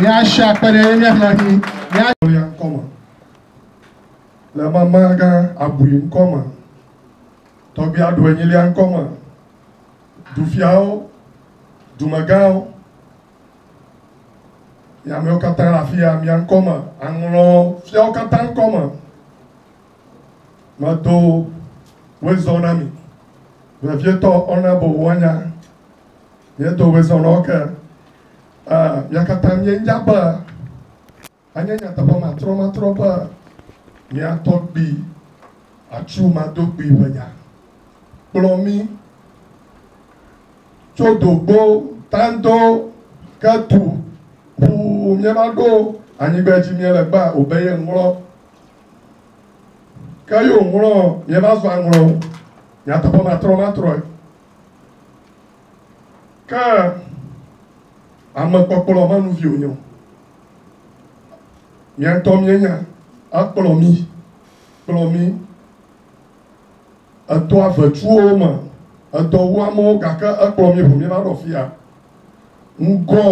míasi akpe ɖe mía xlẽ dzi mía. ya ŋkɔ me le mama gã abui ŋkɔ me tɔgbia ɖu enyilia ŋkɔ me dufiawo dumegãwo. Nye amewo katã le afi ya, mia ŋkɔ me. Aŋlɔ fiawo katã ŋkɔ me. Medo wezɔ na mi. Vevietɔ ɔnabo woanya. Miedo wezɔ na wo ke. Uh, mia katã mienya be Enye nyateƒe matrɔmatrɔ be mía tɔgbui atsu madogbui ƒe nya kplɔ mí tso dogbo tando ke tu ŋu míeva ɖo anyigba dzi míele gbea o be yeŋlɔ. Ke ye wòŋlɔ míeva zɔ aŋlɔ nyateƒe matrɔmatrɔe. Ke amekpɔkplɔ menuvi wònye o. Míatɔ míenya akplɔ mí kplɔ mí etɔ avetuwo me edɔ wu amewo gake ekplɔ mí ʋu míva ɖɔ fia. Ŋgɔ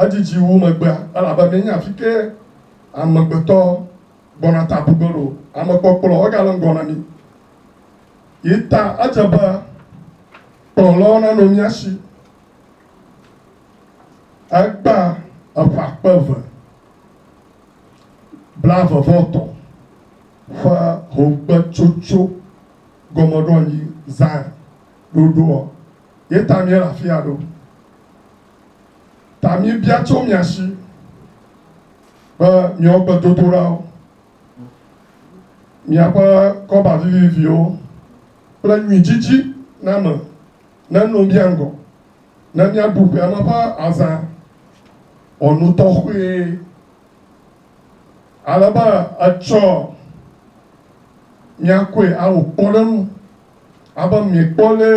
edidi wu megbea elabe míenya afi ke amegbetɔ gbɔna ta bu ge ɖo. Amekpɔkplɔ egale ŋgɔ na mí. Yi ta edze be kplɔlawo nanɔ mía si. Egbã eƒe akpe eve blaeve-vɔ-etɔ̃ ƒe hogbetsotso gɔmeɖoanyi Zion ɖoɖoɔ, ye ta míele afia ɖo. Ta míebia tso mia si be miawo gbedodoɖawo, miaƒe kɔba viviviwo kple nyui didi name neno mía ŋgɔ. Ne míaɖu ƒe ale ƒe azã wɔ nu tɔxɛe ale be etsɔ míakɔe awɔ kpɔɖeŋu abe miekpɔ lé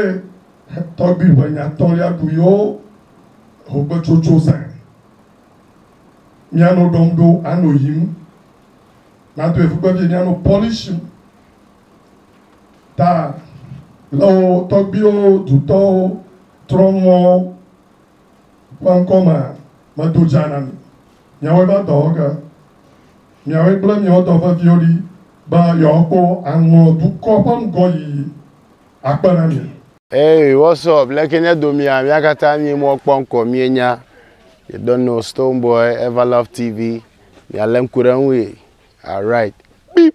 tɔgbi ƒe nyatɔlia ɖu yewo hogbetsotso zã. Mianɔ ɖɔm ɖo anɔ yim. Nadoe ƒukpevie mianɔ pɔlishim. ta le wo tɔgbuiwo dutɔwo trɔ mɔ ƒe ŋkɔ me medo dza na mi. Miawɔe va dɔwɔ ge, miawɔe kple miawo dɔ veviwo ɖi be yewoakpɔ aŋlɔ dukɔ ƒe ŋgɔyiyi akpe na mi. Eye Whatsapp le ke nye domia mia katã mie mɔ kpɔ ŋkɔ mie nya you don't know stone boy ever love TV mia le ŋku ɖe ŋui alright beep.